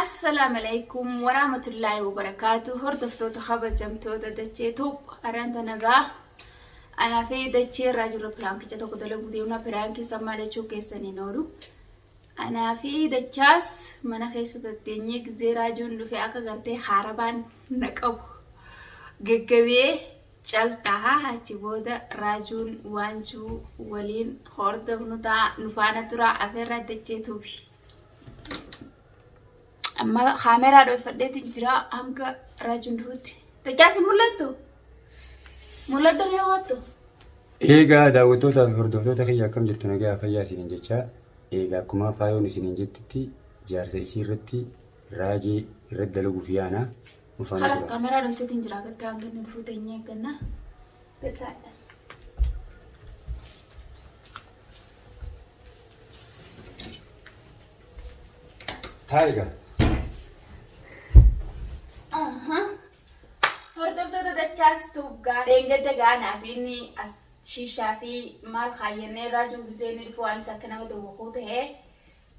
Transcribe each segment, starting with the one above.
Assalam alaikum waraamatullaahi wabarakaatu hordoftoota kabajamtoota dachee tuub aranta nagaa anaa fi dachee irraa jirra piraankicha tokko dalaguu deemna piraankii sammaa lachuu keessan hin oolu anaa fi dachaas mana keessa tatteenyee gizee raajuun dhufe akka gartee haarabaan na qabu gaggabee caltaa achi booda raajuun waanjuu waliin hordofnu ta'a nufaana turaa afeerraa dachee tuubi. amma kaameraa dhoofadheetiin jira hanga raajuun duhutti. Daccaasi mul'attu? Mul'adhu ni hawwattu? Eegaa daawwattootaa fi hordoftoota kiyya akkam jirtu nagaa fayyaa isiniin jechaa eegaa akkuma faayoon isiniin jettitti jaarsa isii irratti raajii irratti dalaguuf yaana ufaan Kalas tura. kaameraa dhoofseetiin jira gatti hanga inni duhuu teenyee eegganna. Gattaadha. Taayiga. Hordoftoota dachaas tuuggaa dheengadda gaanaa fi inni as shiishaa fi maal kaayyannee irraa jiru gisee inni dhufu waanis akka nama tokko ta'ee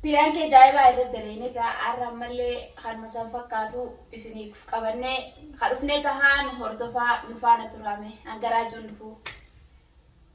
piraan kee jaa'ibaa irra daleene gaa har'a ammallee kanuma san fakkaatu isiniif qabannee ka dhufnee tahaa nu hordofaa nu faana turaame hangaraa jiru dhufu.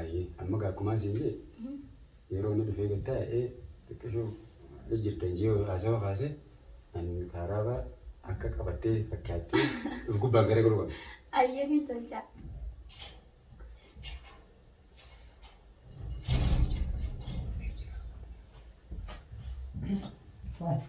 Ayyee amma gaa akkumaan siin jee yeroo inni dhufee gad taa'ee xiqqishuu jirtan jee haasawa kaase an kaaraaba akka qabattee fakkaattee dhuf gubbaan gara garuu qabna. Ayyee niin tolchaa. Thank you.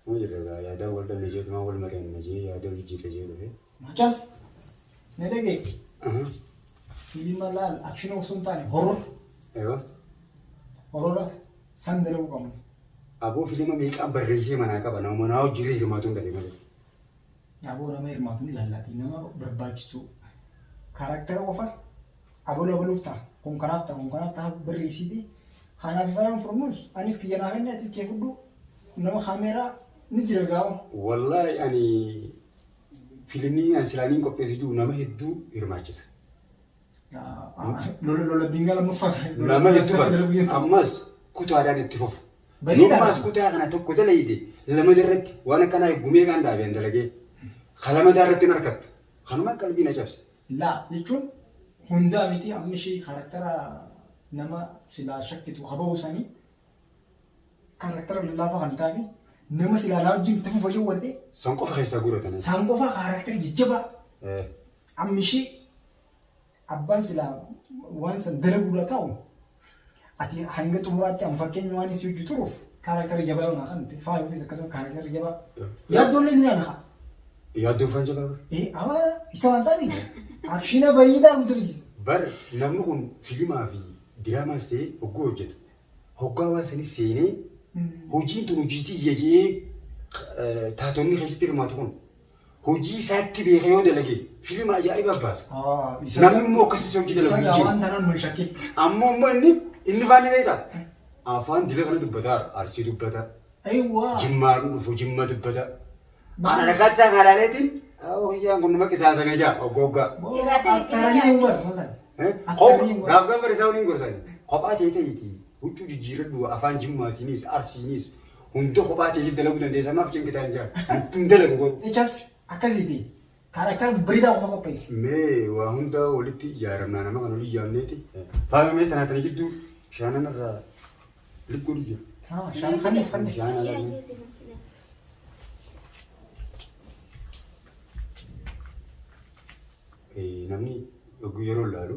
Akkuma jirra egaa yaadaan wal dhabne jee tumaan wal mari'anna jee yaada wal jijjiirra jee dhufe. Mucas na dhageetti. Fiilma laal akshinii osoo hin taane horor. Ewa. Horora san dalaguu qabna. Aboo fiilma meeqaan barreessee manaa qaba nama manaa hojii hirmaatuun dhabe malee. Aboo nama hirmaatuun laallaatii nama barbaachisuu karaktera qofa Abol aboluuf ta'a. Kun kanaaf ta'a. Kun kanaaf ta'a. Birri isiiti. Kanaaf ifayaan furmuus. Anis kiyya naa kenni atis kee fudhu. Nama kaameeraa ni jira gaa'u. Wallaahi ani filimii ani silaaniin qopheessu jiru nama hedduu hirmaachisa. Lola lola dingaa lammaffaa. Nama hedduu kan ammas kutaadhaan itti fufu. Bareedaadha. Yommaas kutaa kana tokko dalayde lamada irratti waan akkanaa eggumee kaan dhaabeen dalagee kalamadaa irratti hin harkattu. Kanumaan qalbii na cabse. Laa jechuun hundaa mitii amma ishii karaktara nama silaa shakkitu haba'uu sanii karaktara lallaafaa kan taane nama silaa naa wajjin itti fufa yoo wal'ee San qofa keessaa guuratan. saan qofaa karaktara jajjabaa Eh, amma ishii abbaan silaa waan san dalaguudhaa taa'u Ati hanga xumuraatti an fakkeenya waan isii hojii turuuf kaaraaktarii jabaa yoo naa kan ta'e faaya ofiis akkasuma kaaraaktarii jabaa yaaddoollee ni ana haa. Yaaddoo faan jabaa bar. Ee abaara isa waan ta'ani akshina bayii daa mutulis. Bar namni kun filimaa fi diraamaas ta'ee hogguu hojjetu hoggaa waan sanis seenee hojiin tun hojiitii jejee taatonni keessatti hirmaatu kun hojii isaatti beeka yoo dalage filima ajaa'ibaa baasa. Namni immoo akkas isa hojii dalagu hin jiru. Waan tanan nu shakkii. Ammoo immoo inni inni faanni beektaa? Afaan dila kana dubbataa arsii dubbata. Ayiwaa. Jimmaa dhufu jimma dubbata. Maal? Ana rakkaatti isaa kaalaaleetiin hoyyaan kun nama qisaasamee jaa oggooggaa. Akkaranii hubar maal? Akkarii waan. Gaaf gaaf barisaa waliin gorsani. Kophaa ta'e ta'eeti huccuu jijjiirradhu afaan jimmaatiinis arsiinis Hunda kophaa teetii dalaguu dandeessa maaf cinqitaan jaal. Antu hin dalagu garuu. Echas akkasiiti kaaraktara babbareedaa qofa qopheessi. Mee waa hunda walitti ijaaramnaa nama kan olii ijaamneeti. Faayoo mee tanaa tana jidduu shaanan irraa lip godhu jira. Haa shaan fanni fanni. Shaan ala. Namni yeroo laalu.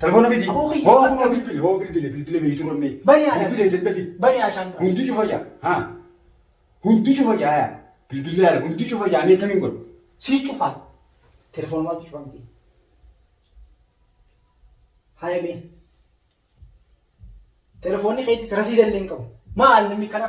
Telefoona fidi. Aboo kiyya. Hoo kunoo bilbili hoo bilbile bilbile beeytu rammee. Bani haadha. Bilbile jedhe fidi. Bani haashaan dura. Hundi cufa jaa. Haa. Hundi cufa jaa yaa. Bilbile haala hundi cufa jaa mee kamiin godhu. Sii cufaa. Telefoon maaltu cufaa miti. Haa emee. Telefoonni keetis rasiida illee hin qabu. Maal namni kana?